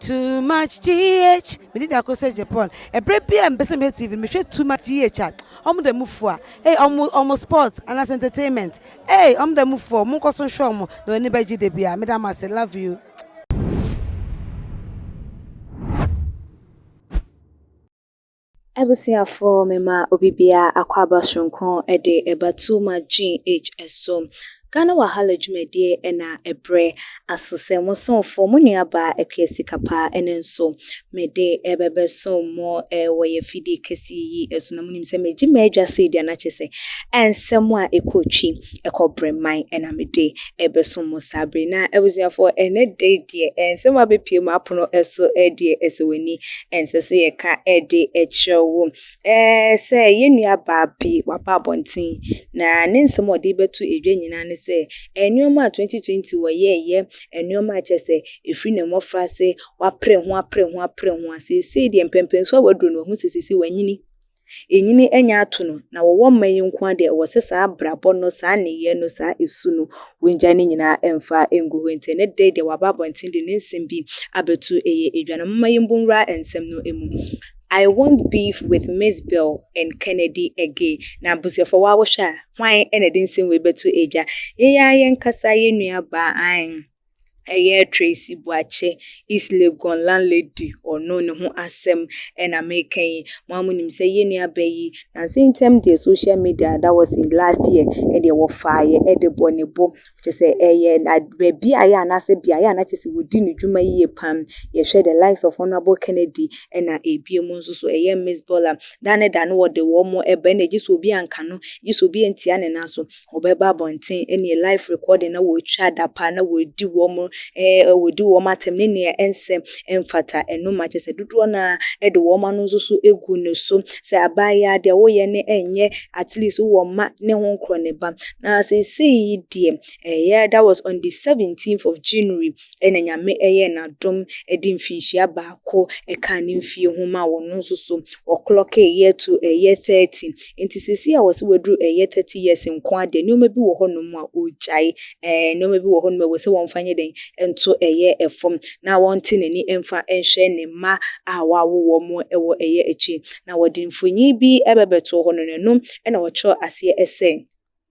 too much gh mede da ko sɛ japan ɛberɛ bi a mepɛ sɛ mehwɛ tv no mehwɛ too much gh a ɔmo da mu fua ei ɔmo ɔmo sport anaasɛ entertainment ei ɔmo da mu fua ɔmo nkɔ so nhwɛ ɔmo na ɔni bɛgye da bi a meda mo ase love you. Abusuafo mema obi biara akwaaba soronko de reba Tuma GH so. Ghana Wahala dwumadie na ɛbrɛ aso sɛ mo somfo, mo nuabaa Akua Sikapa ɛno nso mede rebɛbɛsom mo wɔ yɛn afidie kɛseɛ yi so na monim sɛ magye m'adwa sei deɛ na kyerɛ sɛ ɛnsɛm a ɛkɔ twi. ɛkɔ brɛman ɛna mede ɛbɛsom mo saa bere na abusuafoɔ ɛnɛ da yi deɛ ɛnsɛm abɛpie mu apono ɛso ɛdeɛ ɛsɛ w'ani ɛnsɛ sɛ yɛka ɛde ɛkyerɛ wo ɛɛ sɛ yɛn nua baa bi waba abɔnten na ne nsɛm ɔde bɛto edwa nyinaa ne sɛ nneɛma a 2020 wɔyɛɛyɛ nneɛma a kyɛ sɛ ɛfiri ne mmɔfra ase wapere ho apere ho apere ho a seesei deɛ mpɛmpɛnso a waduro no wahu sɛ seesei wanyini Enyini anya ato no, na wɔwɔ mma yi nko ara deɛ, ɛwɔ sɛ saa abrabɔ no, saa nneyɛɛ no, saa su no, wɔngyae ne nyinaa mfa ngu hɔ. Enti ɛnnɛ da yi deɛ, waba abɔnten de ne nsɛm bi abɛto ɛyɛ dwa no. Momma yɛmmu nwura nsɛm no mu. I won't beef with Miss Bell and Kennedy again. Na abusuafoɔ waa wohwɛ a, hwan na ɛde nsɛm wei bɛto dwa? Yɛn ara yɛnkasa, yɛn nuabaa, aane. ɛyɛ Tracy Boakye, East Legon landlady ɔno ne ho asɛm ɛna meka yi. Mo a monim sɛ yɛ nua bɛ yi, nansa ntam deɛ social media that was in last year ɛdeɛ wɔfaeɛ ɛde bɔ ne bo. Kyɛ sɛ ɛyɛ na baabi a yɛ anaasɛ beaeɛ a na kyɛ sɛ wɔdi ne dwuma yie pam. Yɛhwɛ the likes of Honourable Kennedy ɛna ebie mu nso so ɛyɛ Miss Bola. Da ne da no wɔde wɔn ɛbɛ na gye sɛ obi anka no, gye sɛ obi antia ne nan so. wɔbɛba abɔnten ne live recording na wɔretwa adapaa na wɔredi wɔn ɛɛ eh, wɔredi wɔn atɛm ne nea ɛnsɛ mfata ɛno ma kyɛ sɛ dodoɔ no ara de wɔn ano nso so egu no so sɛ abaayewa deɛ woyɛ ne ɛnyɛ at least wowɔ mma ne ho nkorɔ ne ba na seesei yi deɛ ɛyɛ that was on the 17th of January na Nyame yɛɛ no adom de mfinhyia baako kaa ne mfie ho maa wɔn no nso so, wɔklɔkee year to ɛyɛ 30. Enti seesei a wɔse wɔaduru ɛyɛ 30 years nko ara deɛ, nneɛma bi wɔ hɔnom a ɔregyae. Ɛɛ, nneɛma bi wɔ hɔnom a ɛwɔ sɛ wɔmfa nyɛ dɛn? Nto ɛyɛ fam, na wɔnte n'ani mfa nhwɛ ne mma a wɔawo wɔn wɔ ɛyɛ akyi. Na wɔde mfonin bi bɛbɛtoo hɔ no, na ɛno na wɔkyerɛɛ aseɛ sɛ.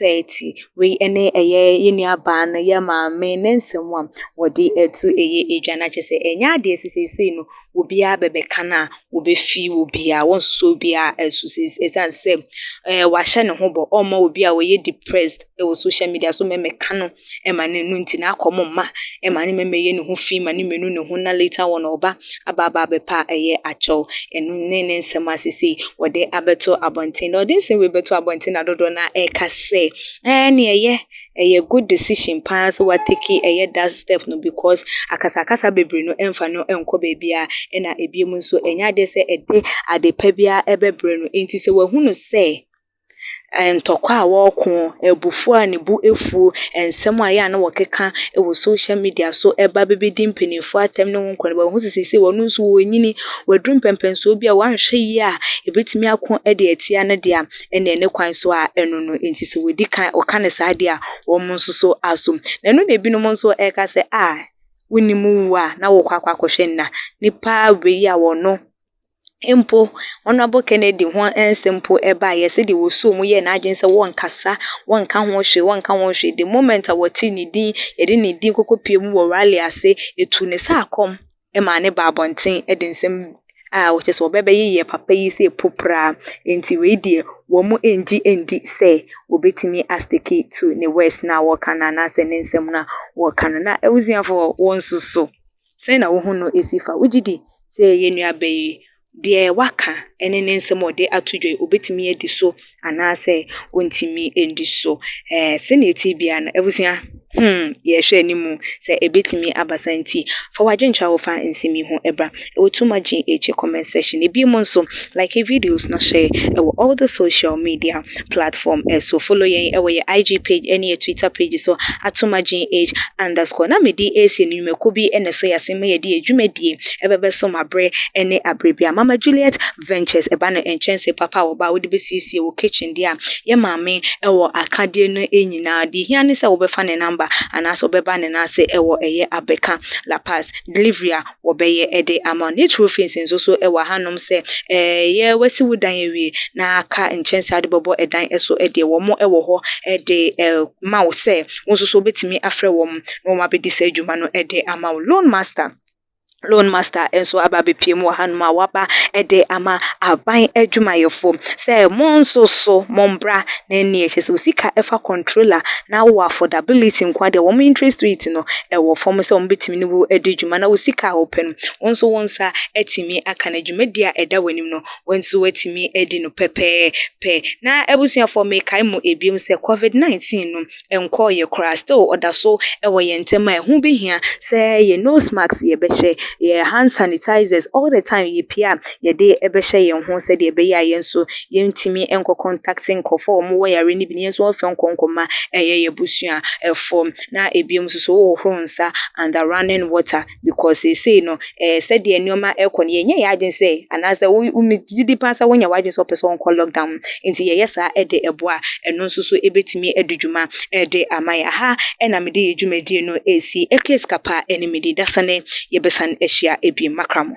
30. Wei ne ɛyɛ yɛn nuabaa no, yɛn maame, ne nsɛm a wɔde ato ɛyɛ adwa no akyɛ sɛ ɛnyɛ adeɛ ɛsɛ seesei no obiara bɛbɛka no a wɔbɛfi obiara wɔnsosɔ obiara ɛso seesei ɛsiane sɛ ɛɛ wahyɛ ne ho bɔ ɔmma obi a ɔyɛ depressed ɛwɔ social media so mɛmɛka no ɛma no no nti n'akɔm mma ɛma ne mɛmɛ yɛ ne ho fi ma ne menu ne ho na later wɔn ɔba aba aba abɛpɛ a ɛyɛ akyɛw ɛno ne ne nsɛm a sesei wɔde abɛto abɔnten na ɔde nsɛm wei bɛto abɔnten na dodoɔ na ɛka sɛ ɛɛ ne ɛyɛ ɛyɛ good decision paa sɛ wateki ɛyɛ that step no because akasakasa bebree no ɛmfa no ɛnkɔ baabiara ɛna ebiem nso ɛnyɛ adeɛ sɛ ɛde ade pa biara ɛbɛbrɛ no nti sɛ wahunu sɛ ntɔkwa a wɔreko, abufuo a ne bo afuo, nsɛm a ɛyɛ a na wɔkeka wɔ social media so ba bɛbɛdi mpanimfoɔ atɛm ne wɔn nkɔmmɔ. Wɔahu sɛ seesei wɔn nso wɔrenyini, wɔaduru mpɛnpɛnsoɔ bi a wɔanhwɛ yie a ɛbɛtumi ako de atia ne deɛ a ɛnneɛ ne kwan so a ɛno no nti sɛ wɔdi kan wɔka no saa deɛ a wɔn nso so aso. Na ɛno na ebinom nso reka sɛ a wonim wu a na wokɔ akɔhwɛ nna. Nnipa wei a wɔno mpo Honourable Kennedy ho nsɛm mpo baeɛ, sɛdeɛ wɔsoo mu yɛɛ n'adwene sɛ wɔrenkasa, wɔrenka ho hwee, wɔrenka ho hwee. The moment a wɔtee ne din, yɛde ne din kɔkɔ pie mu wɔ rally ase, ɛtuu ne saa kɔm maa ne baa abɔnten de nsɛm a wɔkyɛ sɛ wɔbɛbɛyeyɛ papa yi sɛ popraa. Nti wei deɛ, wɔn nngye nndi sɛ wɔbɛtumi a stick to ne words no a wɔreka no anaasɛ ne nsɛm no a wɔreka no. Na abusuafoɔ wo nso so Sɛn na wo ho no si fa? Wogye di sɛ yɛn nuabea yi, deɛ waka ne ne nsɛm a ɔde ato dwa yi, ɔbɛtumi adi so anaasɛ ɔntumi nni so? Ɛɛ, sɛnea ɛte biara no, abusua, hmm, yɛrehwɛ anim sɛ ɛbɛtumi aba saa nti, fa w'adwenkyerɛ a wofa nsɛm yi ho bra. Ɛwɔ to margin akyi comment section. Ebiem nso, like videos na share wɔ all the social media platform so follow yɛn wɔ yɛ IG page ne yɛ Twitter page so atom agyen age underscore na me de ɛɛsie no nwumakuo bi na ɛso yɛase ma yɛde yɛ dwumadie ɛbɛbɛ so ma berɛ ne aberɛ bia mama Juliet ventures ɛba no nkyɛnse papa a wɔba a wode bɛsiesie wo kitchen deɛ a yɛ maame ɛwɔ akadeɛ no nyinaa deɛ hia ne sɛ wobɛfa ne number anaasɛ wobɛba ne nan ase ɛwɔ ɛyɛ abeka la pass delivery a. Wɔbɛyɛ de ama wo. Ne turo fence nso so wɔ hanom sɛ ɛyɛ wasi wo dan awie na aka nkyɛnse a wode bɛbɔ dan so deɛ wɔn wɔ hɔ de ma wo sɛ wo nso so wobɛtumi afrɛ wɔn na wɔn abɛdi saa adwuma no de ama wo. Loan master, Loan master nso aba abɛpue mu wɔ hanom a waba de ama aban adwumayɛfoɔ sɛ mo nso so mo mbra na ɛnni akyire sɛ wo sika ɛfa controller na wowɔ affordability nko a deɛ wɔn interest rate no ɛwɔ fam sɛ wɔn bɛtumi tumi ne wo adi dwuma na wo sika a wopɛ no, wo nso wo nsa atumi aka no. Dwumadi a ɛda w'anim no, wo nso woatumi adi no pɛpɛɛpɛ. Na abusuafoɔ, mekae mo biom sɛ Covid 19 no nkɔɔeɛ koraa, still ɔda so wɔ yɛn ntam a ɛho bɛhia sɛ yɛn nose mask yɛbɛhyɛ, yɛn hand sanitizers all the time yɛpie a yɛde bɛhyɛ yɛn ho sɛdeɛ ɛbɛyɛ a yɛn nso yɛntumi nkɔ contact nkorɔfoɔ a wɔwɔ yareɛ no bi na yɛn nso yɛmfa nkɔ nkɔma yɛn abusuafoɔ. na ebinom nso so wohohoro nsa under running water because seesei no, eh, sɛdeɛ nneɛma ɛrekɔ no, yɛnyɛ yɛn adwene sɛ anaasɛ wo, wo megye di paa sɛ wonyɛ w'adwene sɛ wopɛ sɛ wonkɔ lockdown mu. Nti yɛyɛ saa de boa a, ɛno nso so ɛbɛtumi adi dwuma de ama yɛn. Aha na mede yɛn dwumadie no resi. Case Kappa ne me din. Dasane yɛbɛsane ahyia bio. Makra mo.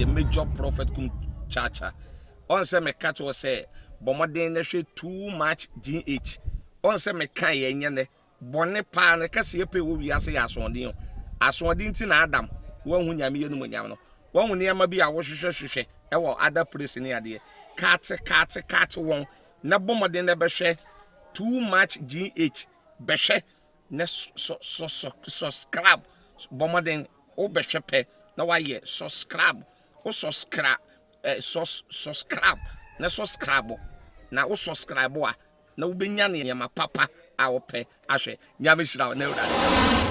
the major prophet kum chacha ɔn sɛ meka kyerɛ sɛ bɔmmɔden na hwɛ too much gh ɔn sɛ meka yɛ nyɛ nɛ bɔne paa no kɛse yɛ pɛ wɔ wiase yɛ asoɔden o asoɔden ti na adam wɔahu nyame yɛ no mu nyam no wɔahu nneɛma bi a wɔhwehwɛ hwehwɛ ɛwɔ ada place ne adeɛ kaate kaate kaate wɔn na bɔ mmɔden na bɛhwɛ too much gh bɛhwɛ na sɔ sɔ sɔ subscribe bɔ mmɔden wo bɛhwɛ pɛ na wayɛ subscribe wo subscribe eh, sus subscribe na subscribe na wo subscribe a na wobɛnya nneɛma papa a wopɛ ahwɛ nyame hyira wo na awurade